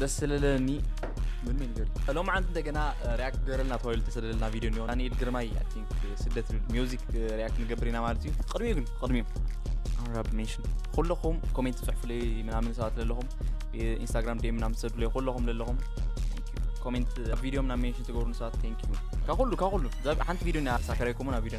ደስ ስለለኒ ምን ነገር ሎም ዓንት እንደገና ሪያክት ገረልና ተባሂሉ ተሰደደልና ቪድዮ እኒኦ ዳንኤል ግርማይ ኣይ ቲንክ ስደት ዝብል ሚውዚክ ሪያክት ንገብር ኢና ማለት እዩ ቅድሚኡ ግን ቅድሚኡ ኣራብ ሜሽን ኩለኹም ኮሜንት ፅሕፉለይ ምናምን ሰባት ለለኹም ኢንስታግራም ዴም ምናምን ትሰዱለይ ኩለኹም ለለኹም ኮሜንት ቪድዮ ምናምን ሜንሽን ትገብሩን ሰባት ቴንክ ዩ ካብ ኩሉ ካብ ኩሉ እዛ ሓንቲ ቪድዮ ና ሳከራይኩምን ኣብ ቪድዮ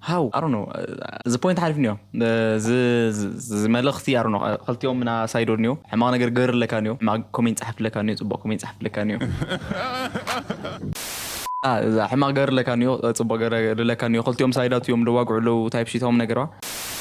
How? I don't know እዚ ፖይንት ሓሊፍኒዮ እዚ መልእኽቲ I don't know ክልቲኦም እና ሳይዶ ኒዮ ሕማቕ ነገር ግበርለካ ኒዮ ሕማቕ ኮሜንት ጸሓፍለካ ኒዮ ጽቡቕ ኮሜንት ጸሓፍለካ ኒዮ እዛ ሕማቕ ግበርለካ ኒዮ ጽቡቕ ግበርለካ ኒዮ ክልቲኦም ሳይዳት እዮም ደዋግዑ ኣለዉ ታይፕ ሺት ሆም ነገርዋ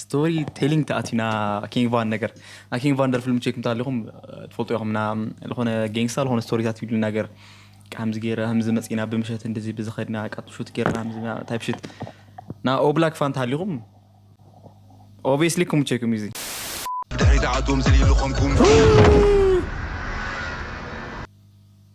ስቶሪ ቴሊንግ ተኣቲና ኪንግ ቫን ነገር ናይ ኪንግ ቫን ደርፊ ልምቸይ ክምታ ኣለኹም ትፈልጡ ኢኹም ና ዝኾነ ጌንግስታ ዝኾነ ስቶሪታት ይብሉ ነገር ከምዚ ገይረ ከምዚ መፂና ብምሸት እንደዚ ብዝኸድና ቃጡ ሹት ገይርና ታይፕ ሽት ና ኦብላክ ፋን ተሃሊኹም ኦብስሊ ክምቸይኩም እዩ እዚ ብድሕሪት ዓዶም ዝልኢሉ ከምኩም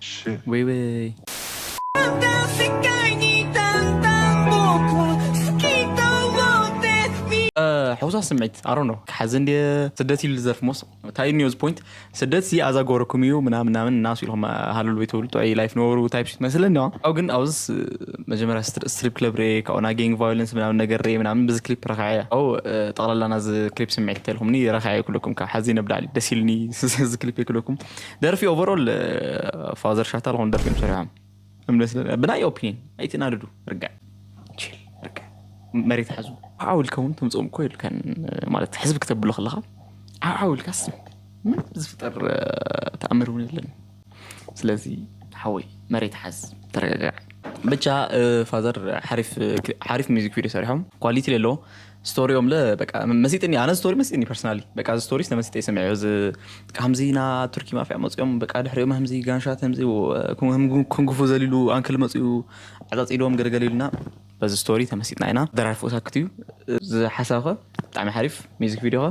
Shit. Wait, wait. ሕውሳት ስምዒት ኣሮ ነው ክሓዚ እንዲ ስደት ይሉ ዘርፍ ሞስ እንታይ እዩ ኒውዝ ፖይንት ስደት ሲ ኣዛ ጎረኩም እዩ ምናምን ምናምን እናሱ ኢልኩም ሃለሉ ቤት ብሉ ጥዑይ ላይፍ ነበሩ ታይፕ ሽት መስለኒ ዋ ኣብ ግን ኣብዚ መጀመርያ ስትሪፕ ክለብ ርኤ ካብኡ ናይ ጌንግ ቫዮለንስ ምናምን ነገር ርኤ ምናምን ብዚ ክሊፕ ረክዐ እያ ኣብኡ ጠቕላላ ናዚ ክሊፕ ስምዒት እንተልኩምኒ ረክዐ ክለኩም ካብ ሓዚ ነብላዕሊ ደስ ኢልኒ እዚ ክሊፕ ክለኩም ደርፊ ኦቨሮል ፋዘር ሻታ ዝኾኑ ደርፊ እዮም ሰሪሖም ብናይ ኦፒኒን ኣይትናድዱ ርግዕ ርግዕ መሬት ሓዙ ዓው ኢልካ እውን ተምፅኦም እኮ የብልካን ማለት ሕዝቢ ክተብሎ ከለካ ዓው ኢልካስ ምንም ዝፍጠር ተኣምር እውን የለን ስለዚ ሓወይ መሬት ሓዝ ተረጋጋዕ ብቻ ፋዘር ሓሪፍ ሚዚክ ቪድዮ ሰሪሖም ኳሊቲ ሌሎ ስቶሪኦምለ በቃ መሲጥኒ ኣነ ስቶሪ መሲጥኒ ፐርሰናሊ በቃ እዚ ስቶሪስ ተመሲጠ ይሰሚዐዮ እዚ ከምዚ ና ቱርኪ ማፍያ መፅኦም በቃ ድሕሪኦም ከምዚ ጋንሻት ከምዚ ክንጉፉ ዘሊሉ ኣንክል መፅኡ ዓፃፂዶም ገለገለ ኢሉና በዚ ስቶሪ ተመሲጥና ኢና ደራርፎ ሳክት እዩ እዚ ሓሳብ ከ ብጣዕሚ ሓሪፍ ሚዚክ ቪድዮ ከ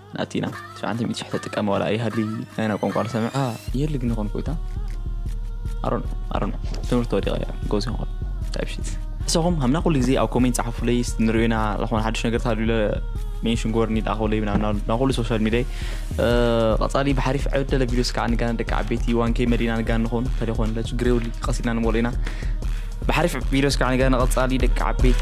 ናቲና ትሽዓተ ሚእቲ ሽሕ ተጥቀመ ዋላ ኣይሃሊ ናይና ቋንቋ ንሰምዕካ ይህሊ ግን ይኾን ኮይታ ኣሮን ኣሮን ትምህርቲ ወዲቀ እያ ጎዝ ይኾን ታይፕሺት ንስኹም ሃምና ኩሉ ግዜ ኣብ ኮሜንት ጸሓፉለይ ንርእዩና ዝኾነ ሓድሽ ነገር ታሉለ ሜንሽን ጎርኒ ዳኸለይ ናብ ኩሉ ሶሻል ሚዲያ ቀጻሊ ብሓሪፍ ዕደለ ቪዲዮስ ከዓ ንጋና ደቂ ዓበይቲ ዋንከይ መዲና ንጋን ንኾን ተደኾን ለችግሬውሊ ቀሲድና ንሞለኢና ብሓሪፍ ቪድዮ እስካዕ ንገ ንቐጻሊ ደቂ ዓበይቲ